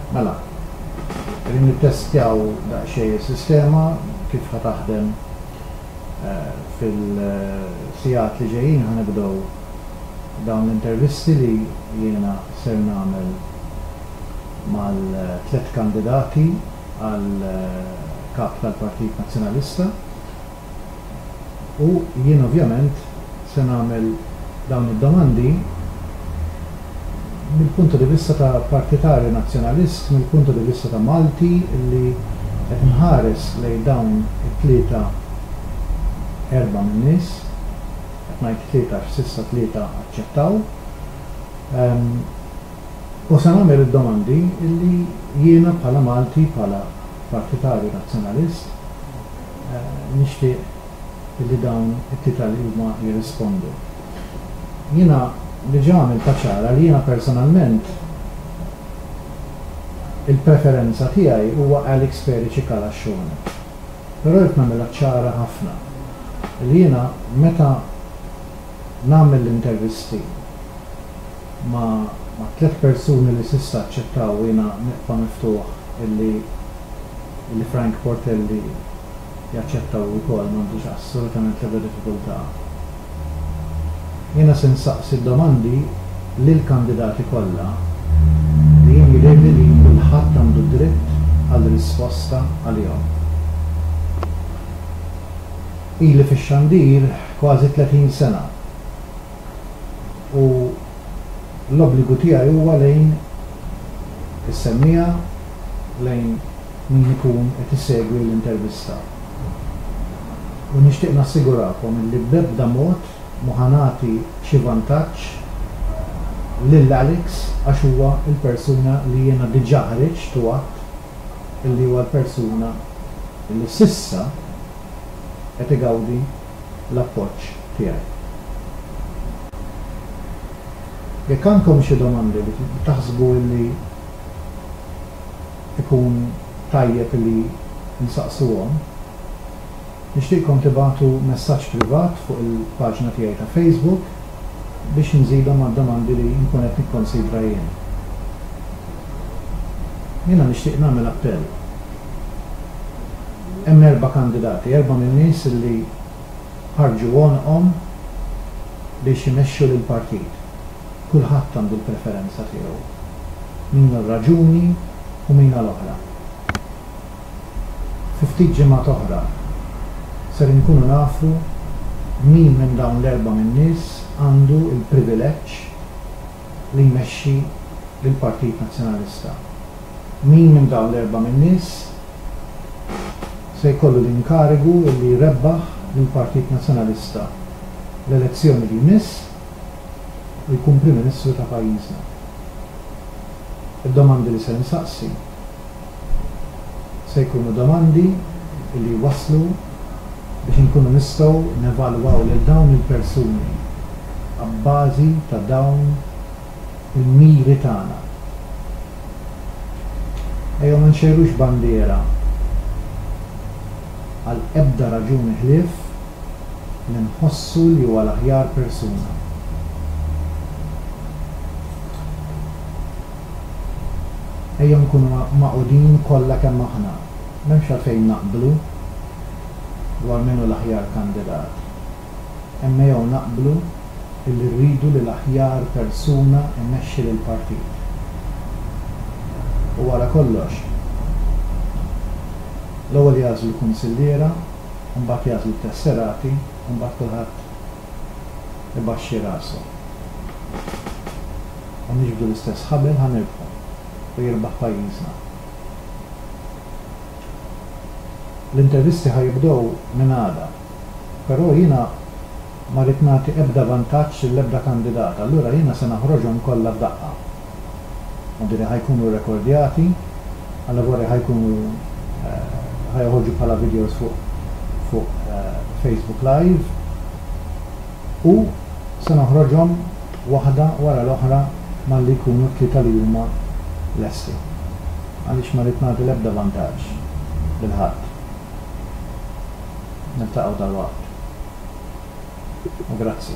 Mela, qegħdin nittestjaw daqsxejn is-sistema kif ħa taħdem fil-sigħat li ġejjin ħa nibdew dawn l-intervisti li jiena ser nagħmel mal-tliet kandidati għal Kap tal-Partit Nazzjonalista. U jien ovvjament se nagħmel dawn id-domandi mill-punto di vista ta' partitarju Nazzjonalist, mill-punto di vista ta' Malti li qed nħares lejn dawn it-tlieta erbgħa minn nies, qed ngħid tlieta għax s'issa tlieta aċċettaw, u se nagħmel id-domandi li jiena bħala Malti, bħala partitarju Nazzjonalist, nixtieq li dawn it-tita li huma jirrispondu. Jiena diġà għamiltha ċara li jiena personalment il-preferenza tiegħi huwa Alex Peri Cikala Xhona. Però rrid nagħmilha ċara ħafna li jiena meta nagħmel l-intervisti ma' tliet persuni li s'issa aċċettaw u jiena nibqa' miftuħ illi illi Frank Portelli jaċċetta hu wkoll m'għandux assolutament l-ebda diffikultà. Jiena se nsaqsi d-domandi lill-kandidati kollha li jien jidhirli li kulħadd għandu d-dritt għal risposta għalihom. Ili fix-xandir kważi 30 sena u l-obbligu tiegħi huwa lejn is-semmiegħa, lejn min ikun qed isegwi l-intervista. U nixtieq nassigurakom illi b'ebda mod ma ħa nagħti xi vantaġġ lil Alex għax huwa l-persuna li jiena diġà ħriġt u għadt illi huwa l-persuna li s'issa, qed igawdi l-appoġġ tiegħi. Jekk għandkom xi domandi li taħsbu illi ikun tajjeb illi nsaqsuhom, nixtieqkom tibagħtu messaġġ privat fuq il-paġna tiegħi ta' Facebook biex nżidhom mad-domandi li nkun qed nikkonsidra jien. Jiena nixtieq nagħmel appell. Hemm erba' kandidati, erba' min-nies li ħarġu għonqhom biex imexxu lill-partit. Kulħadd għandu l-preferenza tiegħu, min għal raġuni u min għal oħra. Fi ftit ġimgħat oħra ser inkunu nafu min minn dawn l-erba' min-nies għandu l-privileġġ, li jmexxi lill-Partit Nazzjonalista. Min minn dawn l-erbgħa min-nies se jkollu l-inkarigu li jrebbaħ lill-Partit Nazzjonalista l-elezzjoni li jmiss u jkun Prim Ministru ta' pajjiżna? Id-domandi li ser insaqsi Se jkunu domandi li jwasslu biex inkunu nistgħu nevalwaw lil dawn il-persuni abbażi ta' dawn il-miri tagħna. Ejjew ma nxejrux bandiera għal ebda raġuni ħlief li nħossu li huwa l-aħjar persuna. Ejja nkunu magħqudin kollha kemm aħna. M'hemmx għalfejn naqblu dwar min hu l-aħjar kandidat, imma jew naqblu illi rridu li l-aħjar persuna jmexxi lill-partit. U wara kollox, l-ewwel jagħżlu kunsilliera, imbagħad jagħżlu t-tesserati, imbagħad kulħadd ibaxxi rasu. Ħa niġbdu l-istess ħabel ħa nirbħu u jirbaħ pajjiżna. L-intervisti ħa jibdew minn għada. Però jiena ma rrid nagħti ebda vantaġġ lill-ebda kandidat, allura jiena se naħroġhom kollha f'daqqa. Għandiri ħa jkunu rrekordjati, għal-lavori ħa jkunu ħa joħorġu bħala videos fuq fuq Facebook Live u se noħroġhom waħda wara l-oħra malli jkunu t-tlieta li huma lesti għaliex ma rrid nagħti l-ebda vantaġġ lil ħadd. Niltaqgħu dalwaqt u grazzi.